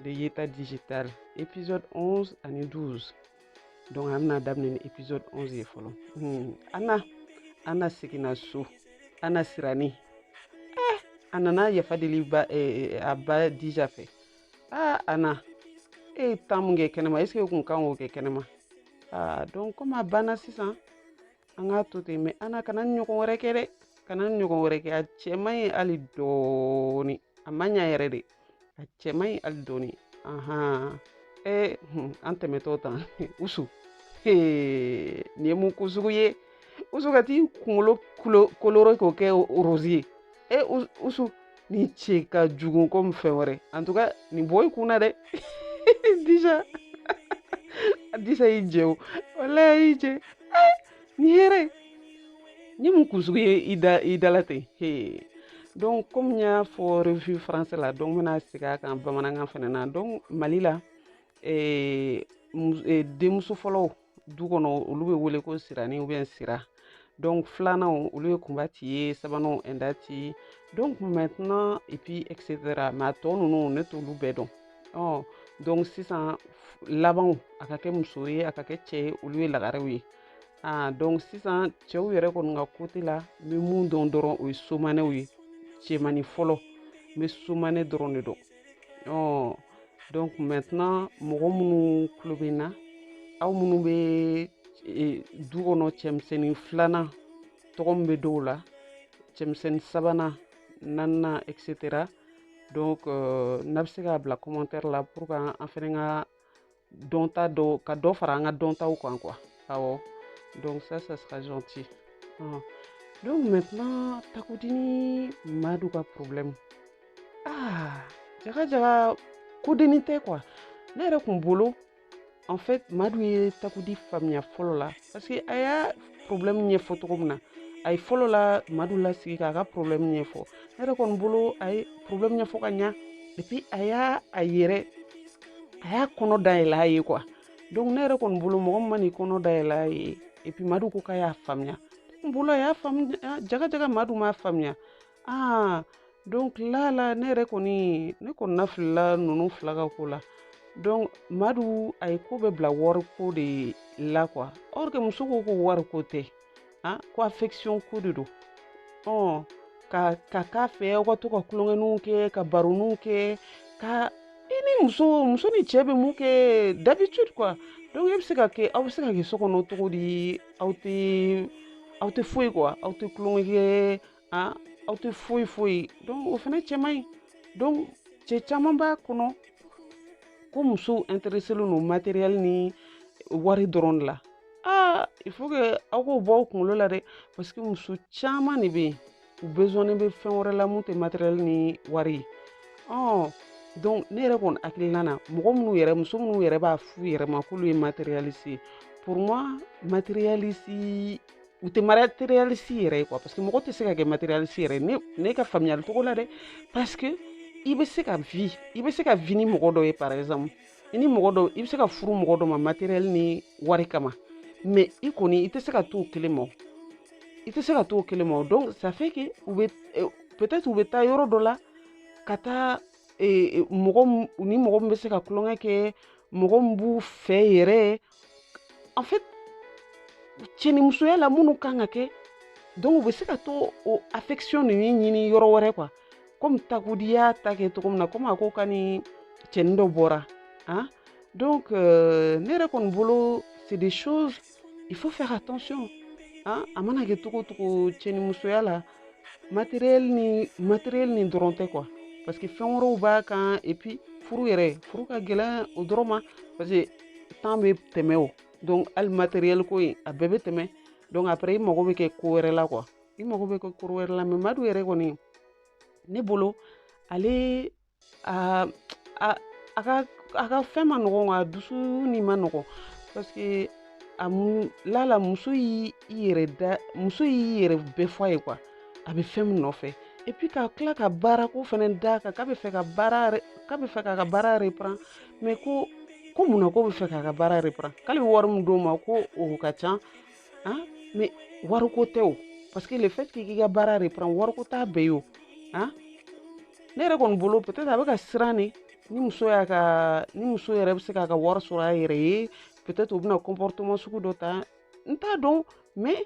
de yeta digital épisode 11 ani 12 donc an bɛna daminɛ ni épisode 11 ye fɔlɔ hmm. ana ana seginna so ana sirani eh, a nana yafa deli ba, eh, a ba dija fɛ ah, ana e ye tan mun kɛ kɛnɛma est ce que kun kan k'o kɛ kɛnɛma ah, donc comme a banna sisan an k'a to ten mais ana kana nin ɲɔgɔn wɛrɛ kɛ dɛ kana nin ɲɔgɔn wɛrɛ kɛ a cɛ man ɲi hali dɔɔni a man ɲi yɛrɛ de a cɛ man ɲi hali dɔɔni ahan ee hun, an tɛmɛtɔ tan usu Hee, nin ye mun ko sugu ye usu ka t'i kunkolo kulo- colorer k'o kɛ rose ye e Us- usu nin cɛ ka jugu komi fɛn wɛrɛ en tout cas nin bɔ i kun na dɛ dija disa y'i jɛ o walayi a y'i jɛ nin yɛrɛ ye mun kun sugu ye i da i dala ten he donc komi n y'a fɔ revue français la donc n bɛna segin a kan bamanankan fana na donc mali la eh, eh, denmuso fɔlɔw du kɔnɔ olu bɛ wele ko sirani ou bien sira donc filananw olu ye kunba de ye sabananw pɛnda de donc maintenant et puis etc mais a tɔ ninnu ne t'olu bɛɛ dɔn ɔ donc sisan labanw a ka kɛ muso ye a ka kɛ cɛ ye olu ye lagarew ye aa donc sisan cɛw yɛrɛ kɔni ka côté la n bɛ mun dɔn dɔrɔn o ye somanɛw ye cɛmani fɔlɔ n bɛ somanɛ dɔrɔn de dɔn ɔ donc maintenant mɔgɔ minnu tulo bɛ n na aw minnu bɛ e, du kɔnɔ cɛmisɛnnin filanan tɔgɔ min bɛ dɔw la cɛmisɛnnin sabanan naaninan etc donc euh, n'aw bɛ se k'a bila commentaire la pour que an fana ka dɔnta dɔ ka dɔ fara an ka dɔntaw kan quoi awɔ donc ça ça sera gentil uh. donc maintenant takudi ni madu ka problème ah jaga jaga ko dennin tɛ quoi ne yɛrɛ kun bolo en fait madu ye takudi faamuya fɔlɔ la parce que a y'a problème ɲɛfɔ cogo min na a ye fɔlɔ la madu lasigi k'a ka problème ɲɛfɔ ne yɛrɛ kɔni bolo a ye problème ɲɛfɔ ka ɲa et puis a y'a a yɛrɛ a y'a kɔnɔ dayɛlɛ a ye quoi donc ne yɛrɛ kɔni bolo mɔgɔ min man'i kɔnɔ dayɛlɛ a ye et puis madu ko k'a y'a faamuya n bolo a y'a faamuya ah, jaga jaga madu m'a faamuya aa ah, donc la la ne yɛrɛ kɔni ne kɔnɔna filila ninnu fila ka ko la donc madu a ye ko bɛɛ bila wari ko de la quoi or que muso ko ko wari ko tɛ han ko affection ko de don ɔ ka ka k'a fɛ aw ka to ka tulonkɛninw kɛ ka baroninw kɛ ka i ni muso muso ni cɛ bɛ mun kɛ d'habitude quoi donc e bɛ se ka kɛ aw bɛ se ka kɛ so kɔnɔ cogo di aw tɛ aw tɛ foyi quoi aw tɛ tulonkɛ kɛ aa aw tɛ foyi foyi ye donc o fana cɛ man ɲi donc cɛ caman b'a kɔnɔ ko musow intéressélen don matériel ni wari dɔrɔn de la aa il faut que aw k'o bɔ aw kunkolo la dɛ parce que muso caman de bɛ yen u besoin bɛ fɛn wɛrɛ la mun tɛ matériel ni wari ye ɔ donc ne yɛrɛ kɔni hakilina na mɔgɔ minnu yɛrɛ muso minnu yɛrɛ b'a f'u yɛrɛ ma k'olu ye matérialiste ye pour moi matérialiste u tɛ matérialiste yɛrɛ ye quoi parce que mɔgɔ tɛ se ka kɛ matérialiste yɛrɛ ne ne ka faamuyali cogo la dɛ parce que i bɛ se ka vie i bɛ se ka vie ni mɔgɔ dɔ ye par exemple i ni mɔgɔ dɔ i bɛ se ka furu mɔgɔ dɔ ma matériel ni wari kama mais i kɔni i tɛ se ka t'o kelen ma i tɛ se ka t'o kelen ma donc ça fait que u bɛ eh, peut-être u bɛ taa yɔrɔ dɔ la ka taa eh, eh, mɔgɔ ɲini mɔgɔ min bɛ se ka tulonkɛ kɛ mɔgɔ min b'u fɛ yɛrɛ en fait cɛnimusoya la minnu kan ka kɛ donc u bɛ se ka to o affection ninnu ɲini yɔrɔ wɛrɛ quoi comme Takudi y'a ta kɛ cogo min na comme a ko k'a ni cɛnin dɔ bɔra hein donc euh, ne yɛrɛ kɔni bolo c'est des choses il faut faire attention hein a mana kɛ cogo o cogo cɛnimusoya la matériel ni matériel ni dɔrɔn tɛ quoi parce que fɛn wɛrɛw b'a kan et puis furu yɛrɛ furu ka gɛlɛn o dɔrɔn ma parce que temps bɛ tɛmɛ o donc hali matériel ko in a bɛɛ bɛ tɛmɛ donc après i mago bɛ kɛ ko wɛrɛ la quoi i mago bɛ kɛ ko wɛrɛ la mais Madu yɛrɛ kɔni ne bolo ale a a a ka a ka fɛn ma nɔgɔn a dusu ni ma nɔgɔn parce que a mu lala muso y'i yɛrɛ da muso y'i yɛrɛ bɛɛ fɔ a ye quoi a bɛ fɛn min nɔfɛ et puis ka tila ka baarako fɛnɛ d'a kan k'a bɛ fɛ ka baara k'a bɛ fɛ k'a ka baara reprend mais ko ko mun na ko bɛ fɛ k'a ka baara reprend k'ale bɛ wari min d'o ma ko o ka ca han mais wariko tɛ o parce que le fait k'i ka baara reprend wariko t'a bɛɛ ye o han ne yɛrɛ kɔni bolo peut-être a bɛ ka siran de ni muso y'a ka ni muso yɛrɛ bɛ se k'a ka wari sɔrɔ a yɛrɛ ye peut-être o bɛna comportement sugu dɔ ta n t'a dɔn mais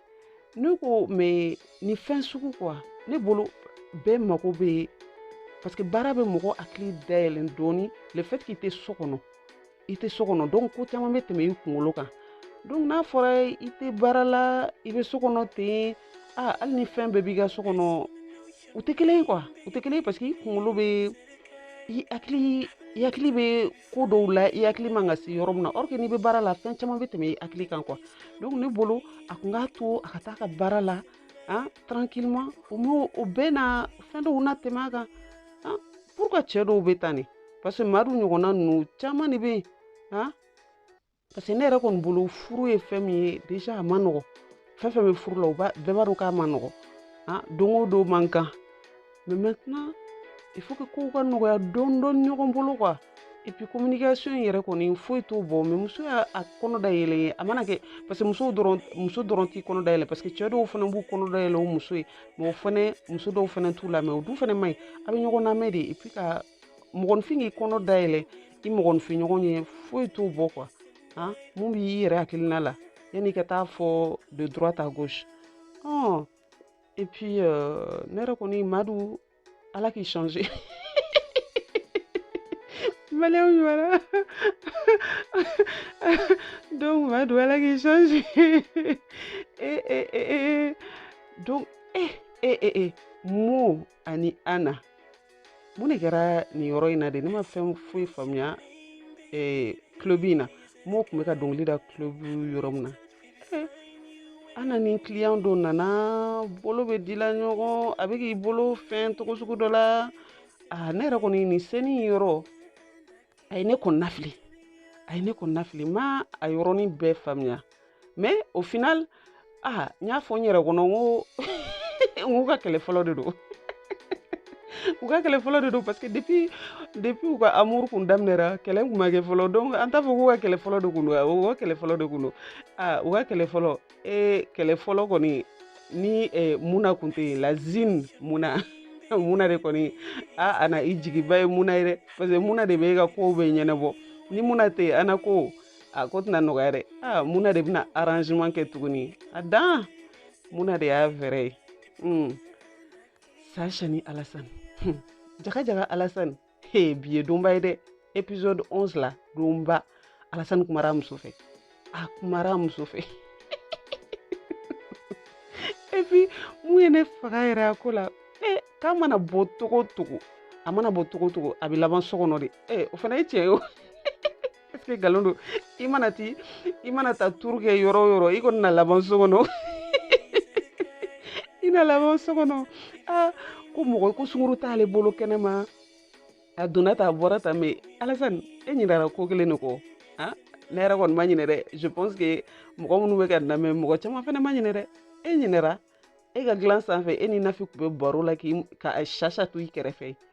ne ko mais nin fɛn sugu quoi ne bolo bɛɛ mago bɛ parce que baara bɛ mɔgɔ hakili dayɛlɛn dɔɔni le fait que i tɛ so kɔnɔ i tɛ so kɔnɔ donc ko caman bɛ tɛmɛ i kunkolo kan donc n'a fɔra i tɛ baara la i bɛ so kɔnɔ ten a hali ni fɛn bɛɛ b'i ka so kɔnɔ u tɛ kelen quoi u tɛ kelen parce que i kunkolo bɛ i hakili i hakili bɛ ko dɔw la i hakili man ka se yɔrɔ min na or que n'i bɛ baara la fɛn caman bɛ tɛmɛ i hakili kan quoi donc ne bolo a kun k'a to a ka taa ka baara la ah tranquillement au moins o bɛna fɛn dɔw latɛmɛ a kan ah parce que cɛ dɔw bɛ tan de parce que Madu ɲɔgɔnna ninnu caman de bɛ yen ah parce que ne yɛrɛ kɔni bolo furu ye fɛn min ye déjà a man nɔgɔ fɛn fɛn bɛ furu la u b'a bɛɛ b'a dɔn k'a man nɔgɔ ah don o don man kan mais maintenant il faut que kow ka nɔgɔya dɔɔni dɔɔni ɲɔgɔn bolo quoi et puis communication in yɛrɛ kɔni foyi t'o bɔ mais muso y'a a kɔnɔ dayɛlɛ ye a mana kɛ parce que muso dɔrɔn muso dɔrɔn t'i kɔnɔ dayɛlɛ parce que cɛ dɔw fana b'u kɔnɔ dayɛlɛ u muso ye mais o fana muso dɔw fana t'u lamɛn o dun fana man ɲi a bɛ ɲɔgɔn lamɛn de et puis ka mɔgɔninfin k'i kɔnɔ dayɛlɛ i mɔgɔninfin ɲɔgɔn ye foyi t'o bɔ quoi han mun b'i yɛrɛ hakilina la yanni i ka taa fɔ de droite à gauche ɔn et puis euh, ne yɛrɛ kɔni madu ala k'i changer manière ɲuman na donc madu ala k'i changer e e e e donc e e e e mo ani ana mun de kɛra nin yɔrɔ in na de ne ma fɛn foyi faamuya club in na mɔgɔ kun bɛ ka dɔnkili da club yɔrɔ min na ana ni client dɔ nana bolo bɛ dila ɲɔgɔn a bɛ k'i bolo fɛn cogo sugu dɔ la ne yɛrɛ kɔni nin scène yɔrɔ a ye ne kɔnɔnafili a ye ne kɔnɔnafili n ma a yɔrɔnin bɛɛ faamuya mais au final aa n y'a fɔ n yɛrɛ kɔnɔ n ko n k'u ka kɛlɛ fɔlɔ de don u ka kɛlɛ fɔlɔ de don parce que depuis depuis u ka amour kun daminɛra kɛlɛ kun ma kɛ fɔlɔ donc an t'a fɔ k'u ka kɛlɛ fɔlɔ de kun don u ka kɛlɛ fɔlɔ de kun don aa u ka kɛlɛ fɔlɔ ee kɛlɛ fɔlɔ kɔni ni eh, muna kun tɛ yen lazine muna muna de kɔni aa ana i jigiba ye muna ye dɛ parce que muna de bɛ e ka kow bɛɛ ɲɛnabɔ ni muna tɛ yen ana ko a ko tɛna nɔgɔya dɛ a muna de bɛna arrangement kɛ tuguni a dan muna de y'a fɛɛrɛ ye hmm. sa sani alasani hmm. jaga jaga alasani he bi ye donba ye dɛ épisode 11 la donba alasani kumara muso fɛ a kumara muso fɛ et puis mun ye ne faga yɛrɛ a ko la e k'a mana bɔ cogo o cogo a mana bɔ cogo o cogo a bɛ laban so kɔnɔ de e o fana ye tiɲɛ ye o ee nkalon don i mana ti i mana taa tour kɛ yɔrɔ o yɔrɔ i kɔni na laban so kɔnɔ i na laban so kɔnɔ aa ko mɔgɔ ko sungurun t'ale bolo kɛnɛma a donna tan a bɔra tan mais alasani e ɲinɛra ko kelen de kɔ a ne yɛrɛ kɔni ma ɲinɛ dɛ je pense que mɔgɔ minnu bɛ k'an lamɛn mɔgɔ caman fana ma ɲinɛ dɛ e ɲinɛra e ka dilan sanfɛ e ni nafi tun bɛ baro la k'i ka sasa to i kɛrɛfɛ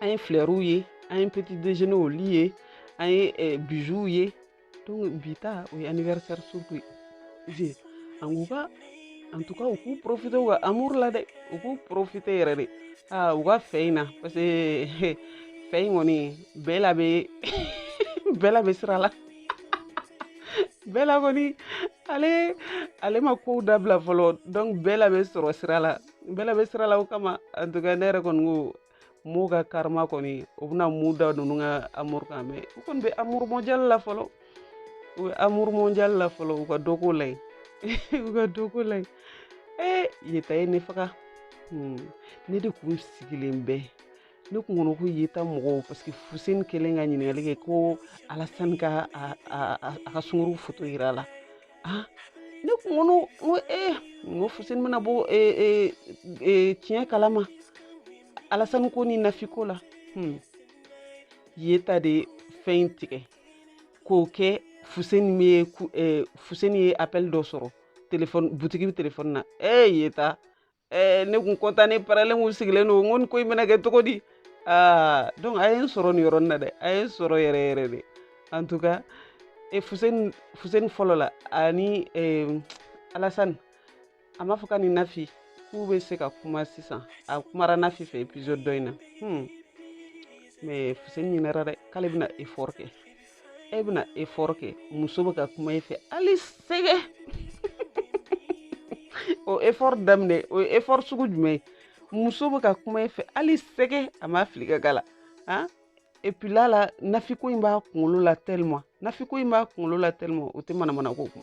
an ye fleurw ye an ye petit déjeuner olu ye an ye eh, bijouw ye donc bi ta o ye anniversaire surtout ye an k'u ka en tout cas u k'u profite u ka amour la dɛ u k'u profite yɛrɛ de aa u ka fɛn in na parce que fɛn in kɔni bɛla bɛ bɛla bɛ sira la bɛla kɔni ale ale ma kow dabila fɔlɔ donc bɛla bɛ sɔrɔ sira la n bɛla bɛ sira la o kama en tout cas ne yɛrɛ kɔni ko m'u ka karima kɔni u bɛna mun da ninnu ka amour kan mais u kɔni bɛ amour mondial la fɔlɔ u bɛ amour mondial la fɔlɔ u ka dɔ k'o la yen u ka dɔ k'o la yen ee yeta ye ne faga hmm. ne de kun sigilen bɛ ne kun kɔnɔ ko yeta mɔgɔw parce que fuseni kɛlen ka ɲininkali kɛ ko alasani ka a ka sunguru foto yira la ah ne kun ko n ko ee n ko fuseni bɛna bɔ tiɲɛ kalama alasani ko ni nafi ko la hmm. yeta de fɛn in tigɛ k'o kɛ fuseni bɛ fuseni ye appel dɔ sɔrɔ telefɔni butigi bɛ telefɔni na ee yeta ɛɛ ne kun content ne parelen kun sigilen don n ko nin ko in bɛna kɛ cogo di aa donc a ye n sɔrɔ nin yɔrɔnin na dɛ a ye n sɔrɔ yɛrɛ yɛrɛ de en tout cas e fuseni fuseni fɔlɔ la ani eh, alasani a m'a fɔ k'a ni nafi k'u bɛ se ka kuma sisan a kumara nafi fɛ épisode dɔ in na hmm. mais fuseni ɲinɛra dɛ k'ale bɛna effort kɛ e bɛna effort kɛ muso bɛ ka kuma e fɛ hali sɛgɛ o effort daminɛ o ye effort sugu jumɛn ye muso bɛ ka kuma e fɛ hali sɛgɛ a ma fili ka gala han epi la la nafi ko in b'a kunkolo la tellement nafi ko in b'a kunkolo la tellement o tɛ manamana ko kun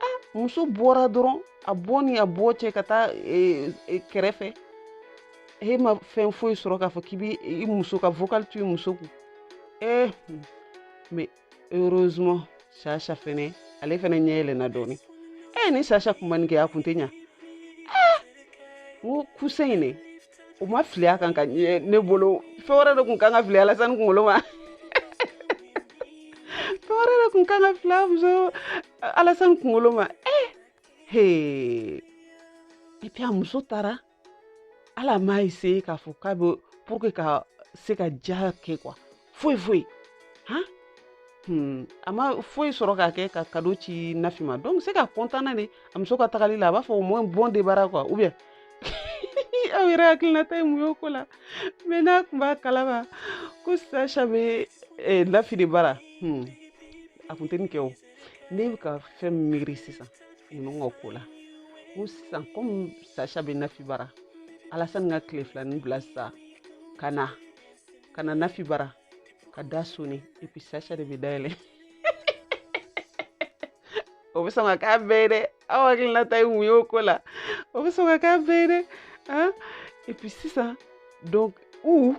a muso bɔra dɔrɔn a bɔ ni a bɔ cɛ ka taa e, e, kɛrɛfɛ e ma fɛn foyi sɔrɔ k'a fɔ k'i bɛ i muso ka vocal to i muso kun ee eh, hmm. mais heureusement sasa fɛnɛ ale fɛnɛ ɲɛ yɛlɛnna dɔɔnin ee eh, ni sasa kun ma nin kɛ a kun tɛ ɲa ee eh, n ko coussin in de o ma fili a kan ka ɲɛ ne bolo fɛn wɛrɛ de kun kan ka fili alasani kunkolo ma fɛn wɛrɛ de kun kan ka fili a muso alasani kunkolo ma eh hee epi a muso taara ala ma e se k'a fɔ k'a bɛ pour que ka se ka ja kɛ quoi foyi foyi han Hmm. a ma foyi sɔrɔ k'a kɛ ka kado ci nafi ma donc c'est qu'a kɔntanna de a muso ka tagali la a b'a fɔ au moins bon débarras quoi ou bien aw yɛrɛ hakilinata ye mun y'o ko la mɛ n'a kun b'a kalama ko sasha bɛ eh, nafi de bara hmm. a kun tɛ nin kɛ o ne bɛ ka fɛn miiri sisan ninnu ka ko la ko sisan komi sasha bɛ nafi bara alasani ka tile filanin bila sisan ka na ka na nafi bara ka da soni epi sasha de bɛ da yɛlɛ o bɛ sɔn ka k'a bɛɛ ye dɛ aw hakilinata ye mun ye o ko la o bɛ sɔn ka k'a bɛɛ ye dɛ ah epi sisan donc ou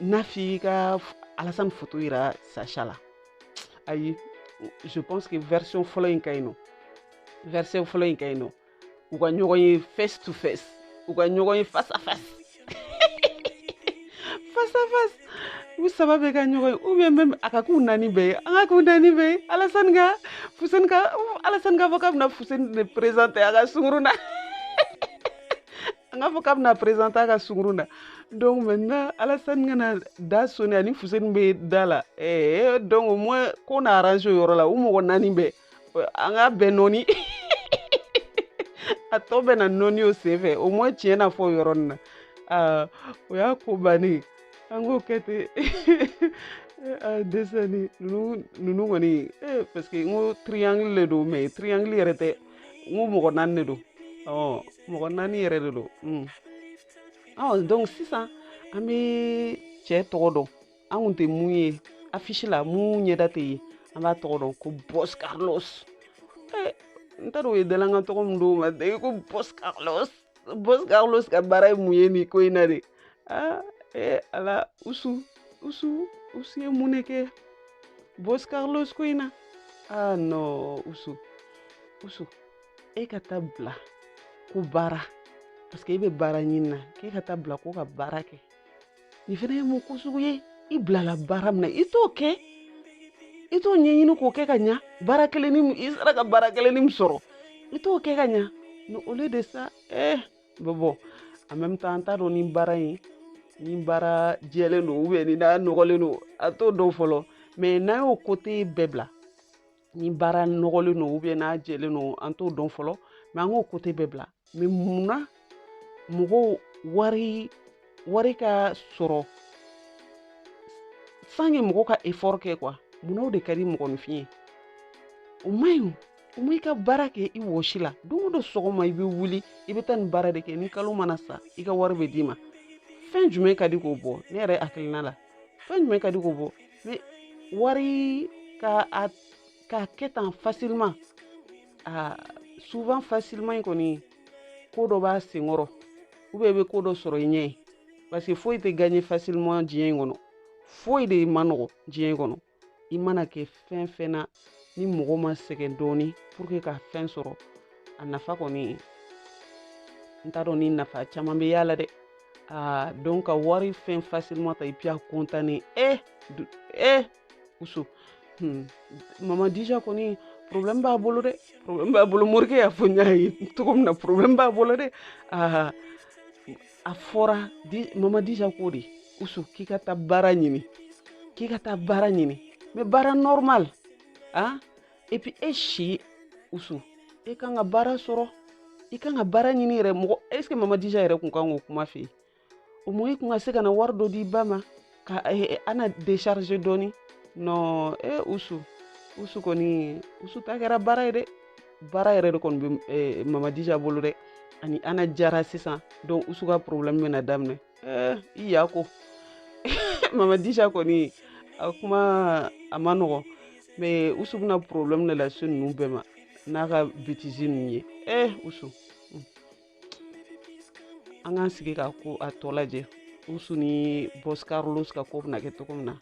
nafi ka alasani foto yira sasha la ayi je pense que version fɔlɔ in ka ɲi nɔ version fɔlɔ in ka ɲi nɔ u ka ɲɔgɔn ye face to face u ka ɲɔgɔn ye face à face face à face u saba bɛɛ ka ɲɔgɔn ye ou bien même a ka k'u naani bɛɛ ye a ka k'u naani bɛɛ ye alasani ka fuseni ka alasani k'a fɔ k'a bɛna fuseni de présente a ka sunkurun na a k'a fɔ k'a bɛna présente a ka sunkurun na donc maintenant alasani ka na da soni ani fuseni bɛ da la ɛɛ donc au moins ko na arrange o yɔrɔ la u mɔgɔ naani bɛɛ an ka bɛn nɔɔni a tɔ bɛ na nɔɔni o senfɛ au moins tiɲɛ na fɔ yɔrɔ nin na aa o y'a ko bannen an k'o kɛ ten dɛsɛ ni ninnu ninnu kɔni parce que n ko triangle de don mɛ triangle yɛrɛ tɛ n ko mɔgɔ naani de don ɔ mɔgɔ naani yɛrɛ de don ɔ donc sisan an bɛ cɛ tɔgɔ dɔn an kun tɛ min ye affiche la min ɲɛda tɛ ye an b'a tɔgɔ dɔn ko bɔs carlos eh, n t'a dɔn o ye dalankan tɔgɔ min d'o ma dɛ ko bɔs carlos bɔs carlos ka baara ye mun ye nin ko in na de aa ee ala usu usu usu ye mun de kɛ bɔs carlos ko in na aa nɔ usu usu i ka taa bila ko baara parce que i bɛ baara ɲinina k'i ka taa bila ko ka baara kɛ nin fana ye mun ko sugu ye i bilala baara min na i t'o kɛ i t'o ɲɛɲini k'o kɛ ka ɲa baara kelennin i sera ka baara kelennin min sɔrɔ i t'o kɛ ka ɲa ni olu de sa eh bon bon en même temps an t'a dɔn ni baara in ni baara jɛlen don ubiyɛn ni n'a nɔgɔlen don an t'o dɔn fɔlɔ mɛ n'an y'o kote bɛɛ bila ni baara nɔgɔlen don ubiyɛn n'a jɛlen don an t'o dɔn fɔlɔ mɛ an k'o kote bɛɛ bila mɛ mun na mɔgɔw wari wari ka sɔrɔ sans que mɔgɔ ka efɔri kɛ quoi mun na o de ka di mɔgɔninfin ye o man ɲi o ma i ka baara kɛ i wɔsi la don o don sɔgɔma i bɛ wuli i bɛ taa nin baara de kɛ ni kalo mana sa i ka wari bɛ d'i ma fɛn jumɛn ka di k'o bɔ ne yɛrɛ hakilina la fɛn jumɛn ka di k'o bɔ mais wari ka a k'a kɛ tan facilement a souvent facilement in kɔni ko dɔ b'a senkɔrɔ ou bien i bɛ ko dɔ sɔrɔ i ɲɛ ye parce que foyi tɛ gagner facilement diɲɛ in kɔnɔ foyi de man nɔgɔ diɲɛ in kɔnɔ i mana kɛ fɛn fɛn na ni mɔgɔ ma sɛgɛn dɔɔni pour que ka fɛn sɔrɔ a nafa kɔni n t'a dɔn ni nafa caman bɛ y'a la dɛ aa donc ka wari fɛn facilement ta et puis a contane e eh, e eh, usu hmm. mama dija kɔni problème b'a bolo dɛ problème b'a bolo morikɛ y'a fɔ n y'a ye cogo min na problème b'a bolo dɛ aa a fɔra mama dija ko di usu k'i ka taa baara ɲini k'i ka taa baara ɲini mais baara normal a ah, et puis e si usu e kan ka baara sɔrɔ i kan ka baara ɲini yɛrɛ mɔgɔ est ce que mama dija yɛrɛ kun kan k'o kuma fɔ i ye o mɔ i kun ka se ka na wari dɔ di i ba ma ka eh, eh, ana décharger dɔɔni non e eh, usu usu kɔni usu ta kɛra baara ye dɛ baara yɛrɛ de kɔni bɛ mamadija bolo dɛ ani ana jara sisan donc usu ka problème bɛna daminɛ eh, i ya ko mamadija kɔni a kuma a man nɔgɔn mais usu bɛna problème de lase ninnu bɛɛ ma n'a ka bêtise ninnu ye eh usu an k'an sigi k'a tɔ lajɛ usu ni bɔs carlos ka ko bɛna kɛ cogo min na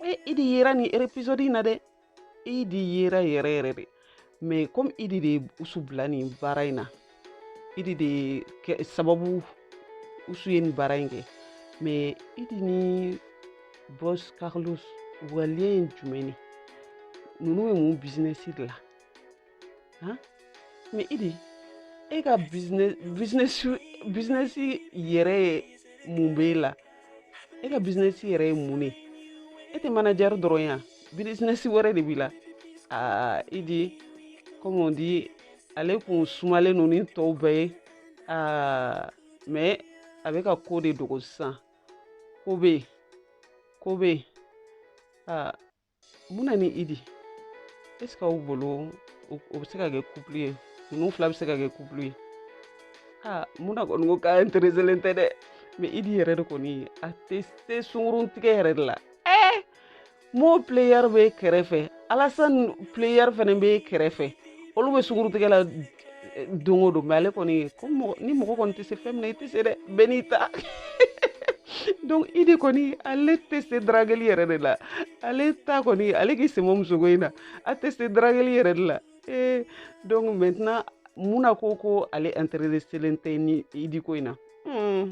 e idi yera nin episode in na dɛ idi yera yɛrɛ yɛrɛ de mais comme idi de ye usu bila nin baara in na idi de kɛ sababu usu ye nin baara in kɛ mais idi ni bɔs carlos waleya ye jumɛn de ninnu bɛ mun bizinɛsi de la han mais idi e ka bizinɛsi yɛrɛ ye mun b'e la e ka bizinɛsi yɛrɛ ye mun ne e tɛ manajɛri dɔrɔn ye bizinɛsi wɛrɛ de b'i la aa idi comme on dit ale kun sumalen don ni tɔw bɛɛ ye aa mais a bɛ ka ko de dogo sisan ko bɛ yen ko bɛ yen aa muna ni idi est ce que aw bolo o bɛ se ka kɛ couple ye ninnu fila bɛ se ka kɛ couple ye aa muna kɔni ko k'a intereselen tɛ dɛ mais idi yɛrɛ de kɔni a tɛ se sunkurun tigɛ yɛrɛ de la ɛɛ mo player bɛ kɛrɛfɛ alasan player fana bɛ kɛrɛfɛ olu bɛ sunkurun tigɛ la don o don mais ale kɔni ko ni mɔgɔ kɔni tɛ se fɛn min na i tɛ se dɛ bɛɛ n'i ta donc idi kɔni ale tɛ se darageli yɛrɛ de la ale ta kɔni ale k'i c'est mort musoko in na a tɛ se darageli yɛrɛ de la ee donc maintenant muna ko ko ale intereselen tɛ idi ko in na hmm.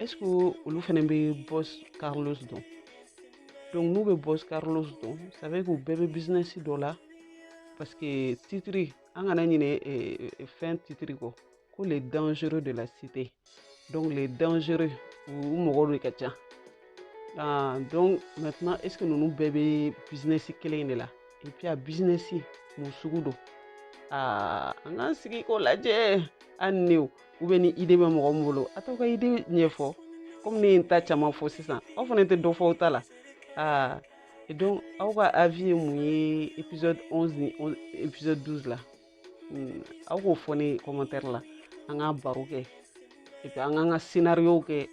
est ce que olu fɛnɛ bɛ boss carlos dɔn donc n'u bɛ boss carlos dɔn ça veut k'u bɛɛ bɛ business dɔ la parce que titre an kana ɲinɛ film titre kɔ ko les dangereux de la cité donc les dangereux u mɔgɔ de ka ca ah, donc maintenant est ce que ninnu bɛɛ bɛ business kelen in de la et puis a business mun sugu don aa an k'an sigi k'o lajɛ an niw u bɛ ni idée bɛ mɔgɔ min bolo a t'aw ka idée ɲɛfɔ comme ne ye n ta caman fɔ sisan aw fana tɛ dɔ fɔ aw ta la aa et donc aw ka avis ye mun ye épisode 11 ni épisode 12 la hmm, aw k'o fɔ n ye commentaire la an ka baro kɛ et puis an k'an ka scénario kɛ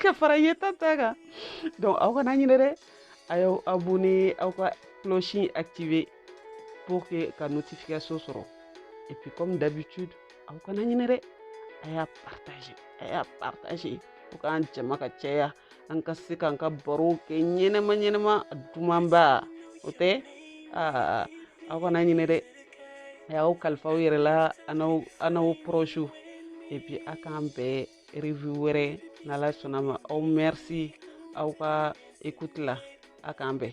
ka fara yeta ta kan donc aw kana ɲinɛ dɛ a y'aw abonné aw ka cloche activé pour que ka notification sɔrɔ et puis comme d'habitude aw kana ɲinɛ dɛ a y'a partagé a y'a partagé fo k'an jama ka caya an ka se k'an ka barow kɛ ɲɛnɛma ɲɛnɛma dumanba o tɛ aa aw kana ɲinɛ dɛ a y'aw kalifa aw yɛrɛ la ani aw prochew et puis a k'an bɛn review wɛrɛ n'ala sɔnna a ma aw merci aw ka écoute la a k'an bɛn